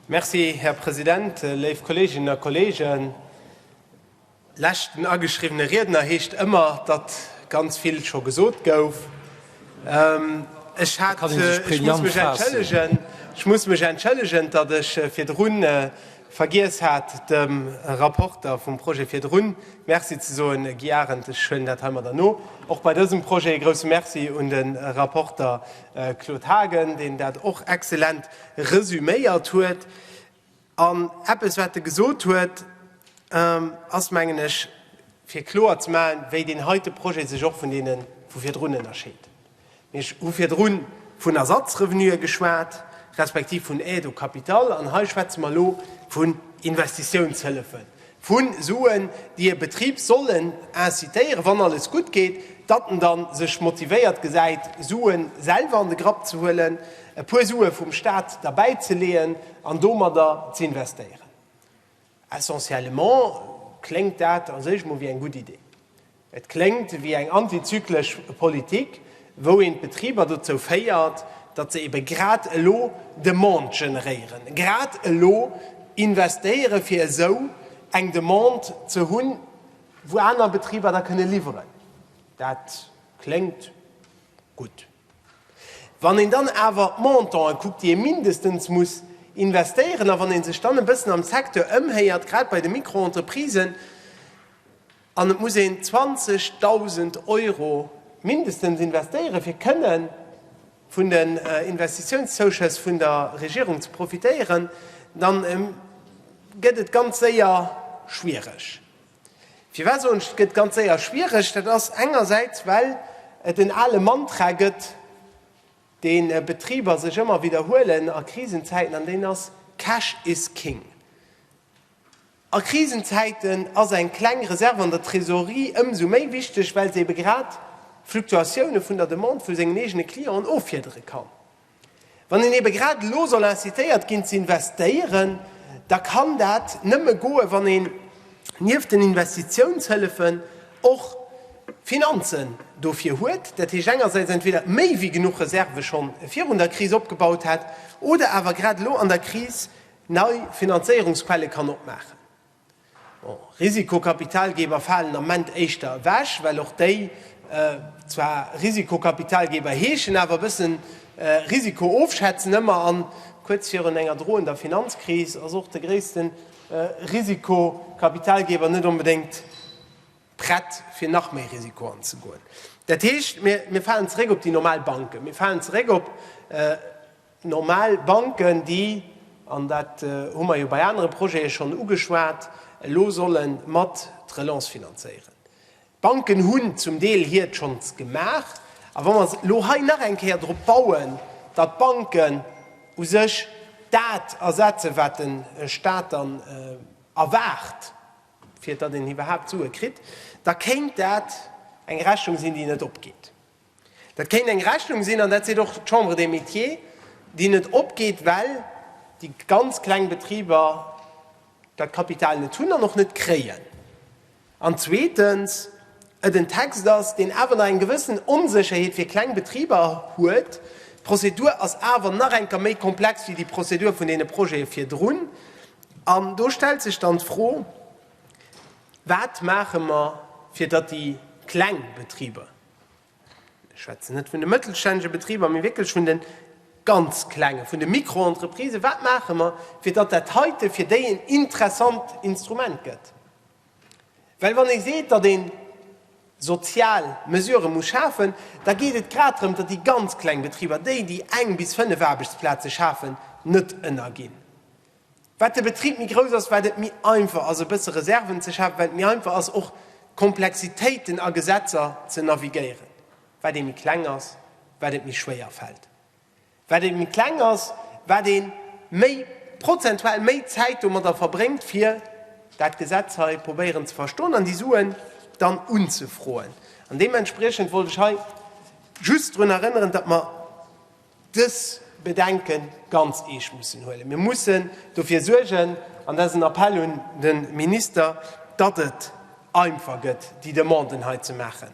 Merci, Här President. Léif Kolleeginnen a Kolleegen, leschten ageschriwwene Riedner heescht ëmmer, datt ganz vill scho gesot gouf. Ech hat, ech muss mech entschëllegen, ech muss mech entschëllegen, datt ech virdrun Vergiess hat, dem Rapporter vum Projet virdrun Merci ze soen, Guy Arendt. Ech huelen dat heimadder no. Och bei dësem Projet e grouse Merci un de Rapporter Claude Haagen, deen dat och exzellent resüméiert huet. An eppes, wat e gesot huet, ass, mengen ech, fir kloer ze maachen, wéi deen heite Projet sech och vun deene vu virdrun ënnerscheet. Mir hu virdru vun Ersatzrevenuë geschwat, respektiv vun Aide au capital, an hei schwätze mer elo vun Investitiounshëllefe vu Suen, déi e Betrib sollen incitéieren, wann alles gutt geet, datt en da sech motivéiert gesäit, Sue selwer an de Grapp ze huelen, e puer Sue vum Stat derbäizeleeën an domadder z'investéieren. Essentiellement kléngt dat a sech emol wéi eng gutt Idee. Et kléngt wéi eng antizyklesch Politik, wou een d'Betriber dozou féiert, datt se ebe grad elo Demande generéieren, grad elo investéieren, fir esou eng Demande ze hunn, wou aner Betriber da kënne liwweren. Dat kléngt gutt. Wann een dann awer d'Montanten kuckt, déi ee mindestens muss investéieren, a wann ee sech dann e bëssen am Secteur ëmhéiert, grad bei de Mikroentreprisen, an et muss een 20.000 Euro mindestens investéieren, fir kënne vun den Investitiounszouschëss vun der Regierung ze profitéieren, da gëtt et ganz séier schwiereg. Firwat soen ech, et gëtt ganz séier schwiereg? Dat ass engersäits, well et en ale Mantra gëtt, dee Betriber sech ëmmer widderhuelen a Krisenzäiten, an deen ass, Cash is king. A Krisenzäiten ass eng kleng Reserve an der Trésorerie ëmsou méi wichteg, well se ebe grad Fluktuatioune vun der Demande vu sengen eegene Clienten offiedere kann. Wann een ebe grad elo soll incitéiert ginn ze investéieren, da kann dat nëmme goen, wann een nieft den Investitiounshëllefen och Finanzen dofir huet. Dat heescht engersäits entweder méi wéi genuch Reserve scho virun der Kris opgebaut hätt oder awer grad elo an der Kris nei Finanzéierungsquelle kann opmaachen. Bon, Risikokapitalgeber falen am Ment éischter ewech, well och déi zwar Risikokapitalgeber heeschen, awer e bëssen Risiko ofschätzen ëmmer. An kuerz virun enger droender Finanzkris ass och de gréisste Risikokapitalgeber net onbedéngt prett, fir nach méi Risiko anzegoen. Dat heescht, mir falen zeréck op déi normal Banken, mir falen zeréck op Normal Banken, déi, an dat hu mer jo bei anere Projete schonn ugeschwat, elo solle mat d'Relance finanzéieren. D'Banken hunn zum Deel hiert schonns gemaach. A wa mer elo hei nach eng Kéier drop bauen, datt d'Banken u sech dat ersetzen, wat de Stat dann erwaart, fir datt een iwwerhaapt Sue kritt, da kéint dat eng Rechnung sinn, déi net opgeet. Dat kéint eng Rechnung sinn, an dat seet och d'Chambre des Métiers, déi net opgeet, well déi ganz kleng Betriber dat Kapital net hunn an och net kréien. An zweetens et en Text ass, deen awer nach eng gewëssen Onsécherheet fir kleng Betriber huet. D'Prozedur ass awer nach eng Kéier méi komplex wéi déi Prozedur vun deene Projete virdrun. An do stellt sech dann d'Fro, Wat maache mer, fir datt déi kleng Betriber, Ech schwätzen net vun de mëttelstännege Betriber, mee wierklech vun de ganz Klengen, vun de Mikroentreprisen. Wat maache mer, fir datt dat heite fir déi en interessant Instrument gëtt? Well wann ee seet, datt ee sozial Mesurë muss schafen, da geet et grad drëm, datt déi ganz kleng Betriber, déi, déi eng bis fënnef Aarbechtsplaze schafen, net ënnerginn. Wat de Betrib méi grouss ass, wat et méi einfach ass e bësse Reserven ze schafen, wat et méi einfach ass och Komplexitéiten a Gesetzer ze navigéieren. Wat ee méi kleng ass, wat et méi schwéier fält. Wat ee méi kleng ass, wat ee méi, prozentual méi Zäit domadder verbréngt fir dat Gesetz hei probéieren ze verstoen an déi Suen dann unzefroen. An deementspriechend wollt ech hei just drun erënneren, datt mer, dës Bedenke ganz eescht mussen huelen. Mir mussen dofir suergen, an dat ass en Appell un de Minister, datt et einfach gëtt, déi Demanden hei ze maachen,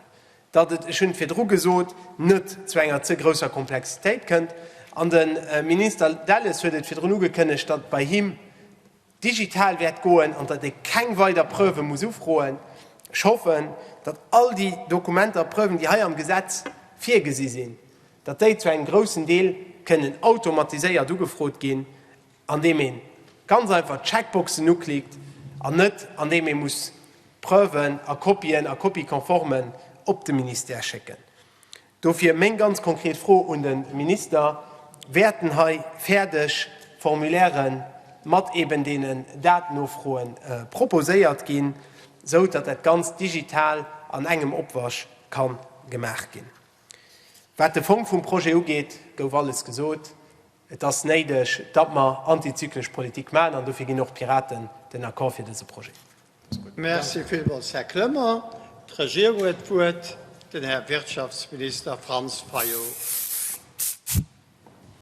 datt et, ech hunn et virdru gesot, net zu enger ze grousser Komplexitéit kënnt. An de Minister Delles huet et virdrun ugekënnegt, datt bei him, digital wäert goen an datt ee keng weider Preuve muss ufroen. Ech hoffen, datt all déi Dokumenter a Preuven, déi hei am Gesetz virgesi sinn, datt déi zu engem groussen Deel kënnen automatiséiert ugefrot ginn, andeem ee ganz einfach d'Checkboxen uklickt an net andeem ee muss Preuven a Kopien a Copie-conformen op de Ministère schécken. Dofir meng ganz konkret Fro un de Minister, Wäerten hei fäerdeg Formulaire mat eben deenen Datennofroe proposéiert ginn, esou datt dat Ganzt digital an engem Opwasch ka gemaach ginn? Wat de Fong vum Projet ugeet, gouf alles gesot. Et ass néideg, datt mer antizyklesch Politik maachen, an dofir ginn och d'Piraten den Accord fir dëse Projet. Merci villmools, Här Clement. D'Regierung huet d'Wuert, den Här Wirtschaftsminister Franz Fayot.